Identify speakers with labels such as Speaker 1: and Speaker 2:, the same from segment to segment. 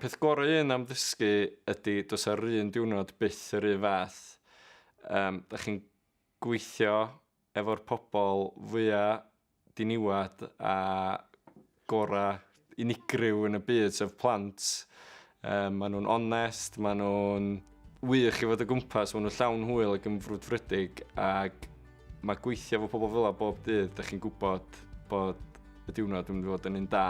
Speaker 1: peth gorau un am ddysgu ydy dos ar un diwrnod byth yr un fath. Um, da chi'n gweithio efo'r pobl fwyaf diniwed a gorau unigryw yn y byd, sef plant. Um, maen nhw'n onest, maen nhw'n wych i fod o gwmpas, maen nhw'n llawn hwyl ac yn frwdfrydig ac mae gweithio fo pobl fel bob dydd, da chi'n gwybod bod y diwrnod yn mynd i fod yn un da.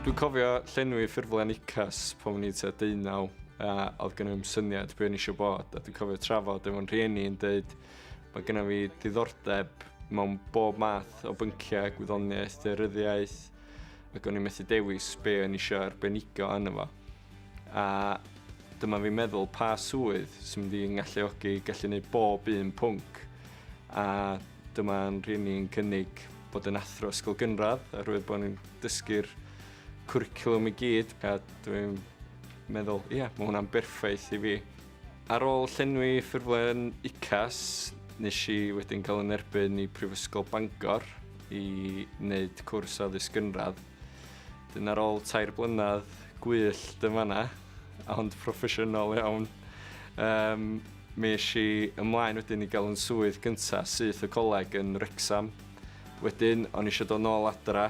Speaker 1: Dwi'n cofio llenwi ffurflen UCAS pan o'n i'n tua deunaw a oedd gen i ddim syniad be o'n i eisiau bod a dwi'n cofio trafod efo'n rhieni yn dweud mae gennym fi diddordeb mewn bob math o bynciau, gwyddoniaeth, deuryddiaeth ac o'n i'n methu dewis be o'n i eisiau arbenigo yna fo. A dyma fi'n meddwl pa swydd sy'n mynd i'n galluogi gallu gwneud bob un pwnc a dyma'n rhieni'n cynnig bod yn athro ysgol gynradd oherwydd bod ni'n dysgu'r cwricwlwm i gyd a dwi'n meddwl, ie, yeah, mae hwnna'n berffaith i fi. Ar ôl llenwi ffurflen UCAS, nes i wedyn cael yn erbyn i Prifysgol Bangor i wneud cwrs o addysg gynradd. Dyn ar ôl tair blynedd gwyll dyfana, ond proffesiynol iawn, um, mi eis i ymlaen wedyn i gael yn swydd gyntaf syth y coleg yn Rexham. Wedyn, o'n eisiau dod nôl adra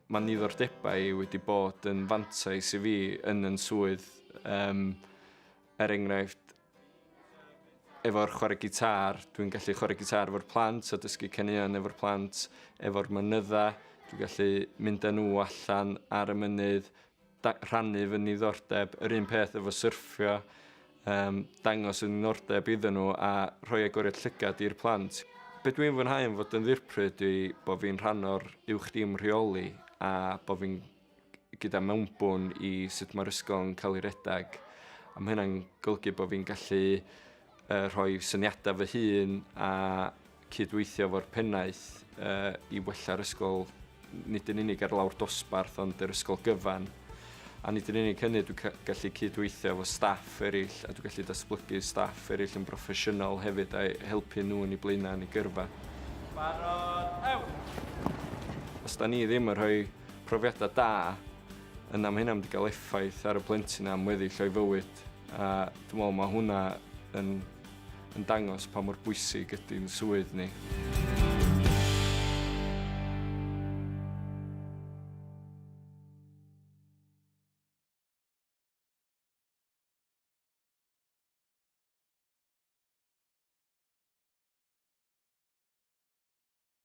Speaker 1: Mae nifer debau wedi bod yn fantais i fi yn yn swydd, um, er enghraifft, efo'r chwarae gitar, dwi'n gallu chwarae gitar efo'r plant a dysgu caneuon efo'r plant, efo'r mynydda, dwi'n gallu mynd â nhw allan ar y mynydd, rhannu fy niddordeb yr un peth efo syrffio, um, dangos y niddordeb iddyn nhw a rhoi agoriad llygad i'r plant. Be dwi'n fwynhau yn fod yn ddirpryd yw bod fi'n rhan o'r uwch dim rheoli a bod fi'n gyda mewnbwn i sut mae'r ysgol yn cael ei redag. A mae hynna'n golygu bod fi'n gallu uh, rhoi syniadau fy hun a cydweithio efo'r pennaeth uh, i wella'r ysgol nid yn unig ar lawr dosbarth ond yr ysgol gyfan. A nid yn unig hynny, dwi'n gallu cydweithio efo staff eraill a dwi'n gallu datblygu staff eraill yn broffesiynol hefyd a'i helpu nhw yn ei blaenau yn ei gyrfa. Barod, ew! Os da ni ddim yn rhoi profiadau da, yna mae hynna'n mynd i gael effaith ar y plentyn am weddill o'i fywyd. gwaith a dwi'n meddwl mae hwnna yn, yn dangos pa mor bwysig ydy'n swydd ni.